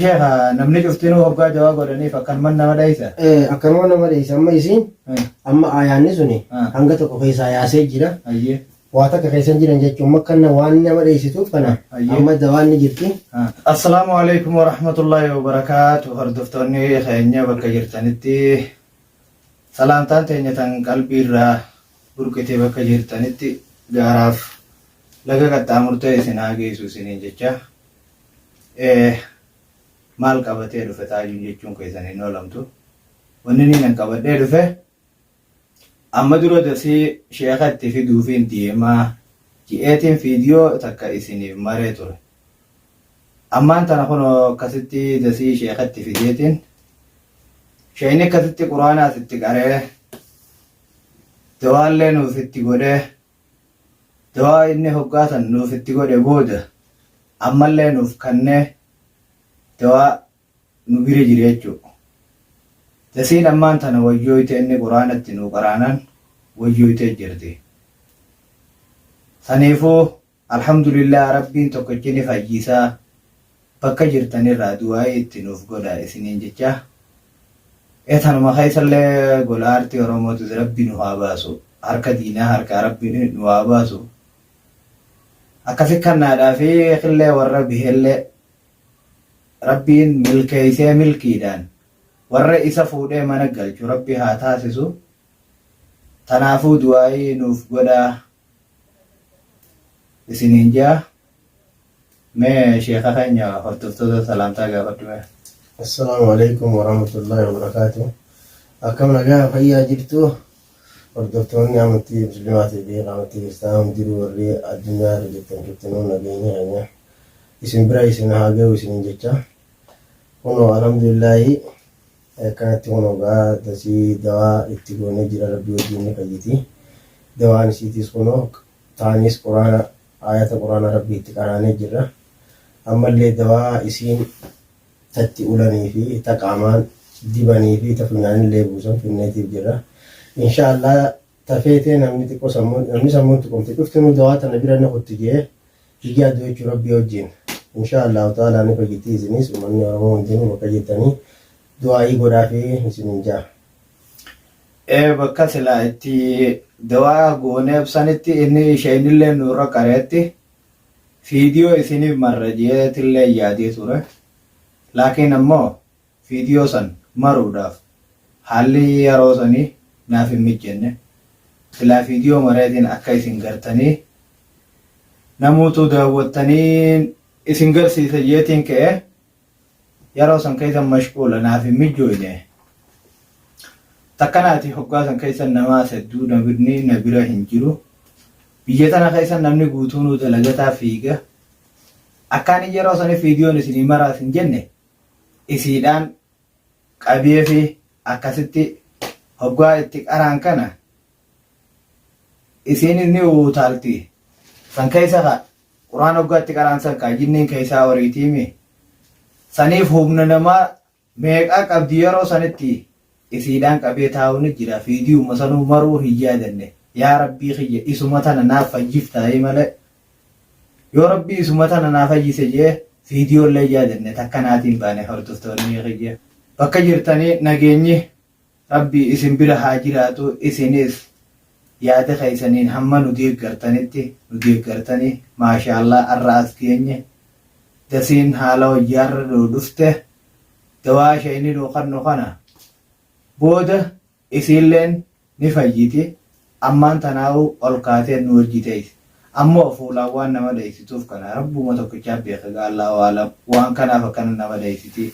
Sheekha namni cuftinuu hoggaa dawaa godhaniif akkanuman nama dheeysa. Eh, akkanuma nama dheeysa amma isiin Eh, amma aayaanni suni Ah. hanga tokko keessaa yaasee jira Ayyee. waa takka keessan jiran jechuun makkanna waan nama dheeysituuf kana Ayyee. amma dawaan ni jirti Ah. Assalaamu alaikum wa rahmatullahi wa barakaatu hordoftoonni keenya bakka jirtanitti salaamtaan teenya tan qalbiirraa burqitee bakka jirtanitti gaaraaf laga qaxxaamurtee isin haa geessu isiniin jecha Eh maal qabatee dhufe taajuun jechuun keessan hin oolamtu. Wanni inni nan qabadhee dhufe amma dura dasii sheeka itti fiduufiin deemaa ji'eetiin fiidiyoo takka isiniif maree ture. Ammaan tana kunoo akkasitti dasii sheeka itti fideetiin sheekni akkasitti quraanaas itti qaree dawaallee nuuf itti godhee Du'aa inni hoggaa san nuuf itti godhe booda ammallee nuuf kannee du'aa nu bira jira jechuudha. Dasiin ammaan tana wayyooyte inni quraana itti nuu qaraanan wayyooytee jirti. Saniifuu alhamdulillah rabbiin tokkichi ni fayyisaa Bakka jirtan irraa du'aa'ii itti nuuf godhaa isiniin jechaa ee tanuma keessa illee gola aartii oromootis rabbi nu haa baasu harka diinaa harkaa rabbi nu haa baasu akkasi kannaadhaa fi killee warra bihe illee rabbiin milkeeysee milkiidhaan warra isa fuudhee mana galchu rabbi haa taasisu tanaafuu du'aa'ii nuuf godhaa isiniin jaa mee sheeka keenya hordoftoota salaamtaa gaafadhu mee. Assalaamu alaikum warahmatullahi wabarakaatu. Akkam nagaa fayyaa jirtu hordoftoonni amantii musliimaatii fi amantii kiristaanaa hundinuu warri addunyaa irra jirtan cuftinuu nageenya keenya isin bira isin haa ga'u isiniin jecha kunoo alhamdulillaahi Akkanatti kunoo gaa dasii dawaa itti goonee jira rabbii wajjiin fayyiti dawaan isiitiis kunoo taaniis quraana aayata quraana rabbii itti qaraanee jirra ammallee dawaa isiin tatti ulanii fi ta qaamaan dibanii fi ta funyaanillee buusan finneetiif jirra inshaa allah ta feetee namni xiqqo sammun namni sammun tuqamte cuftinuu dawaa tana bira ni kutti jee figyaa du'achuu rabbii wajjiin inshaa allahu ta'alaa ni fayyitii isiniis ummanni oromoo hundinuu bakka jirtanii du'aa'ii godhaafi isiniin jaa ee bakka silaa itti dawaa gooneef sanitti inni isheenillee nurra qareetti fiidiyoo isiniif marra jeetillee yaadee ture laakiin ammoo Viidiyoo san maruudhaaf haalli yaroo sanii naaf hin mijjenne. Silaa viidiyoo mareetiin akka isin gartanii namuutuu daawwattaniin isin garsiisa jeetiin ka'e. Yaroo san keessan mashquula naaf hin mijjooyne. Takkanaati hoggaa san keessan namaas hedduu namni na bira hin jiru. Biyya tana keessan namni guutuunuu dalagataa fiiga. Akkaanii yaroo sanii viidiyoon isinii maraas hin jenne. isiidhaan qabeefi akkasitti hoggaa itti qaraan kana isiinis ni uutaalti san keessa ka quraan hoggaa itti qaraan san kaa jinniin keessaa oriitiimi saniif humna namaa meeqaa qabdi yeroo sanitti isiidhaan qabee taa'uu ni jira fiidiyuma sanuu maruu hin yaadanne yaa rabbii kiyya isuma tana naaf fajjiftaa'ee malee Yoo rabbii isuma tana naa fayyise jee video illee yaadadhe takka naati hin baane hordoftoonni kiyya bakka jirtanii nageenyi rabbii isin bira haa jiraatu isinis yaada keessaniin hamma nu deeggartanitti nu deeggartanii maashaallah arra as geenye dasiin haala hojjaarra nuu dhufte dawaa shayni nuu kannu kana booda Isiilleen ni fayyiti, ammaan tanaahuu ol kaatee nu wajji teeyse. Ammoo fuulaan waan nama dhaysituuf kana Rabbuma tokkicha beeka gaa Allaahu A'alam, waan kanaaf akkana nama dhaysiti.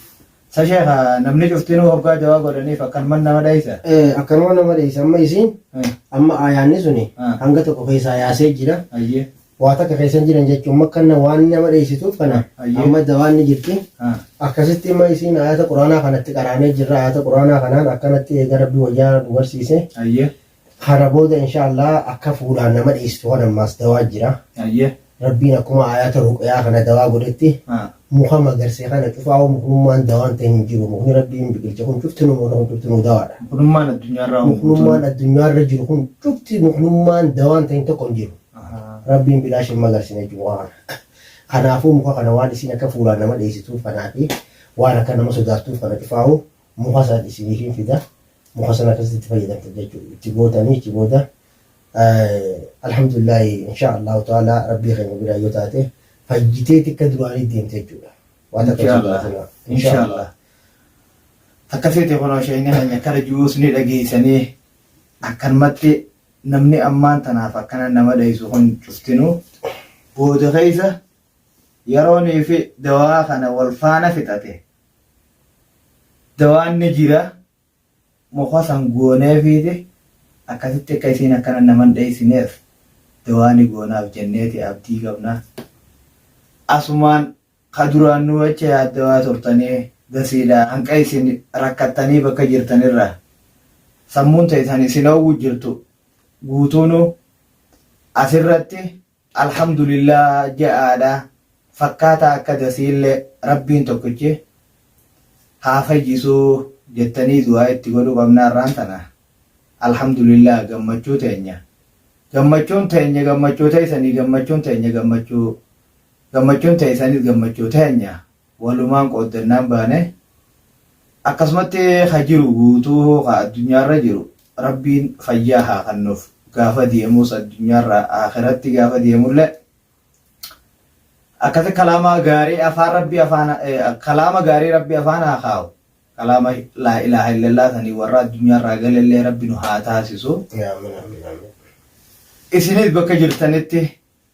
Sa sheekha, namni cuftinuu hoggaa dawaa godhaniif akkanuman nama dhaysa? Ee, akkanuma nama dhaysa. Amma isiin, Ee. amma aayaanni suni Haa. hanga tokko keeysaa yaasee jira. Hayyee. Waa takka keessa hin jiran jechuun makkanna waan nama dheessituuf kana Ayyee. amma dawaan ni jirti. Ah. Akkasitti immoo isiin ayata quraanaa kanatti qaraanee jirra ayata quraanaa kanaan akkanatti eega rabbi wayyaa nu barsiise. Ayyee. Kana booda inshaallah akka fuudhaan nama dheessitu kan ammaas dawaa jira. Ayyee. Rabbiin akkuma ayata ruqyaa kana dawaa godhetti Ah. Muka magarse kana cufaahu muknummaan dawaan ta'e hin jiru. Mukni Rabbiin biqilche kun cuftinuu mukni kun cuftinuu dawaadha. Muknummaan addunyaarraa hoo guutuun? Muknummaan addunyaarra jiru kun cufti muknummaan dawaan ta'in tokko hin jiru. Rabbiin bilaash hin magarsine jechu muka kana. Kanaafuu muka kana waan isiin akka fuulaan nama dheeysituuf kanaafi waan akka nama sodaattuuf kana cufaahu muka san isiniifin fida. Muka san akkasitti itti fayyadamtan jechu. Itti gootanii achi booda Alhamdulillahi inshaa Allahu ta'aalaa Rabbii keenya biraa yoo taate fayyitee tikka duraanii deemte jechuudha. Waa takka Inshaa Allah. jibaatina. Inshaa Allah. Takka seete kunoo sheekni keenya kara jiruus ni dhageessanii akkanumatti namni ammaan tanaaf akkana nama dhahisu kun cuftinuu booda keessa yeroonii fi dawaa kana wal faana fixate dawaan ni jira Muka san gooneefiiti akkasitti akka isiin akkana nama hin dheessineef dawaa ni goonaaf jenneeti abdii qabna. Asumaan ka duraan nu acha yaaddawaa turtanii gasiidha hanqa isin rakkattanii bakka jirtan irraa sammuun teessan isin oowwu jirtu guutuunuu asirratti Alhamdulillah ja'aadha fakkaataa akka dasiille rabbiin tokkichi haa fayyisu jettanii du'aa itti godhuu qabna har'aan tana Alhamdulillah gammachuu teenya gammachuun teenya gammachuu teessanii gammachuun teenya gammachuu gammachuun teessanis gammachuu teenya walumaan qooddannaan baane, akkasumatti ka jiru guutuu hoo ka addunyaarra jiru Rabbiin fayyaa haa kannuuf, gaafa deemuus addunyaarraa aakhiratti gaafa deemullee akkasi kalaamaa gaarii afaan Rabbii afaan kalaama gaarii Rabbii afaan haa kaa'u, kalaama laa ilaaha illallaa sanii warra addunyaarraa galellee Rabbi nu haa taasisu. Amiin amiin amiin. Isinis bakka jirtanitti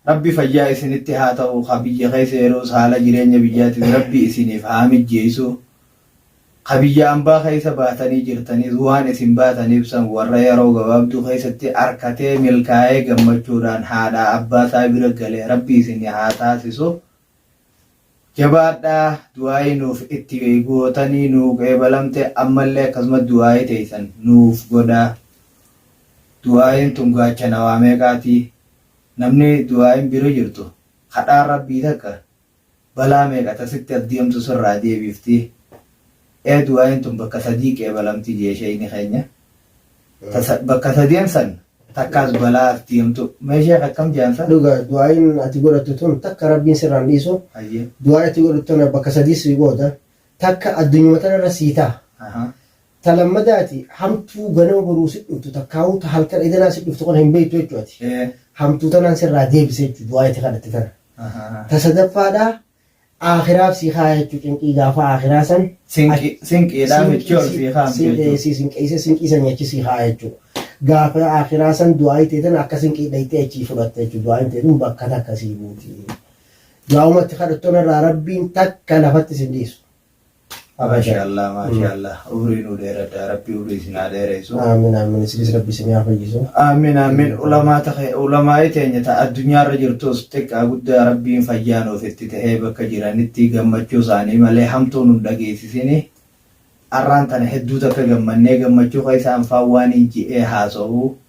Rabbi fayyaa isinitti haa ta'u ka biyya keessa yeroos haala jireenya biyyaatiis rabbi isiniif haa mijjeessu ka biyya ambaa keessa baatanii jirtaniis waan isin baataniif san warra yeroo gabaabduu keessatti arkatee milkaa'ee gammachuudhaan haadhaa abbaa isaa bira gale rabbi isin haa taasisu Jabaadha du'aa'ii nuuf itti gootanii nuu qeebalamte ammallee akkasuma du'aa'ii teeysan nuuf godhaa du'aa'iin tun gaachana waa meeqaati namni du'aa'iin bira jirtu kadhaan rabbii takka balaa meeqa ta sitti as deemtu sirraa deebiifti Ee du'aayin tun bakka sadii qeebalamti jee sheeyni keenya ta bakka sadeen san takkaas balaa atti himtu mee sheekh akkam je'an san? Dhuga du'aayin ati godhattu tun takka rabbiin sirraa hin dhiisu Hayyee. du'aayi ati godhattu tana bakka sadii sii qooda takka addunyuma tanarra sii taha Ahaa. ta lammadaati hamtuu ganama boruu sit dhuftu takkaahuu ta halkan edanaa sit dhuftu kana hin beeytu jechu ati Ee. hamtuu tanaan sirraa deebisa jechu du'aayi ati kadhatte tana Ahaa. ta sadaffaadha Aakhiraaf sii kaaya jechuu cinqii gaafa aakhiraa san Sinqi- sinqiidhaa michii ol sii kaa'amti Sin- jechuudha. si sinqeessee sinqii san nyaachii sii kaaya jechuudha. Gaafa aakhiraa san du'aayi teetan akka sinqii dhayxee achii fudhatte jechuudha. Du'aayin teetun bakka takka sii buuti. Du'aawumatti kadhattoon irraa rabbiin takka lafatti sin dhiisu. Maashaa Allah maashaa Allah umrii nuu dheeradha rabbi umrii isin haa dheereessu. Aamin aamin isinis rabbi isin haa fayyisu. Aamin aamin ulamaa ta'e ulamaa'ii teenya ta addunyaarra jirtus xiqqaa guddaa rabbiin fayyaa nuuf itti ta'ee bakka jiranitti gammachuu isaanii malee hamtuu nun dhageessisini. Arraan tana hedduu takka gammannee gammachuu keessa anfaan waan hin ji'ee haasa'u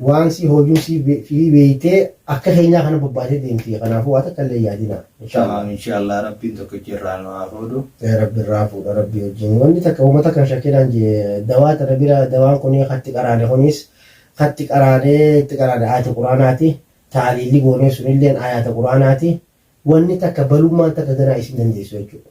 Waan sii hoojuu sii be- fii beeytee akka keenyaa kana bobbaatee deemti. Kanaafuu waa takka illee yaadina. Inshallah. Tamaam inshallah rabbiin tokkichi irraa nu haa fuudhu. Yaa Rabbi irraa fuudha Rabbi wajjin. Wanni takka uummata kan shakkinaan jee dawaa tana bira dawaan kun hatti qaraane kunis hatti qaraanee itti qaraane ayata quraanaati. Taaliilli goonee sunilleen ayata quraanaati. Wanni takka balummaan takka ganaa isin dandeessu jechuudha.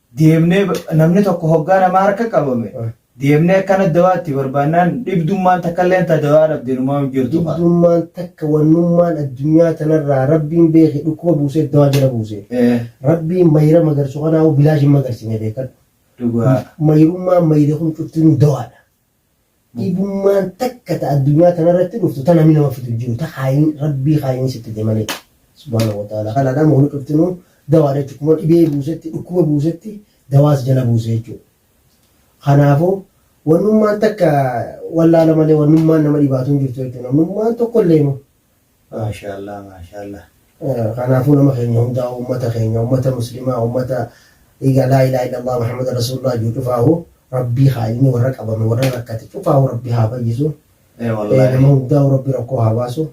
deemnee namni tokko hoggaa namaa harka qabame deemnee akkana dawaa itti barbaannaan dhibdummaan takka illeen ta dawaa dhabde numaa hin jirtu kaa. Dhibdummaan takka wannummaan addunyaa tanarraa rabbiin beeke dhukkuba buusee dawaa jala buuse. Eh, Rabbiin mayra magarsu kanaahu bilaash hin magarsine beekadhu. Dhugaa. Mayrummaan mayre kun cuftinuu dawaadha. Dhibummaan takka ta addunyaa tanarratti dhuftu ta nami nama fidu hin jiru, ta kaayni Rabbii kaayni sitti fide malee. Subhaanahu wa ta'aalaa. Kanaaf nama hunda cuftinuu dawaadha jechuudha. Akkuma dhibee buusetti, dhukkuba buusetti dawaa si jala buusa jechuudha. Kanaafuu wannummaan takka wallaala malee wannummaan nama dhibaatu hin jirtu jechuudha. Namnummaan tokkolleenu Maashaallaah maashaallaah kanaafuu nama keenya hundaa'uu ummata keenya ummata muslimaa ummata dhiiga laa ilaaha illallaah muhammada rasuulullaah jiru cufaahu rabbii haa ilmi warra qabame warra rakkate cufaahu rabbii haa fayyisu Ee Eh, wallaahi. nama hundaa'uu rabbi rakkoo haa baasu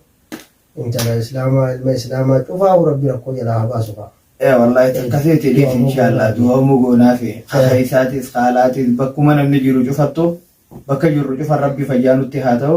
intala islaamaa ilma islaamaa cufaahu rabbi rakkoo jalaa haa baasu fa'a Ee wallaahi takka feete dhiif inshaallah du'amu goonaafi haqa isaatis haalaatis bakkuma namni jiru cufattu bakka jirru cufan rabbi fayyaa nutti haa ta'u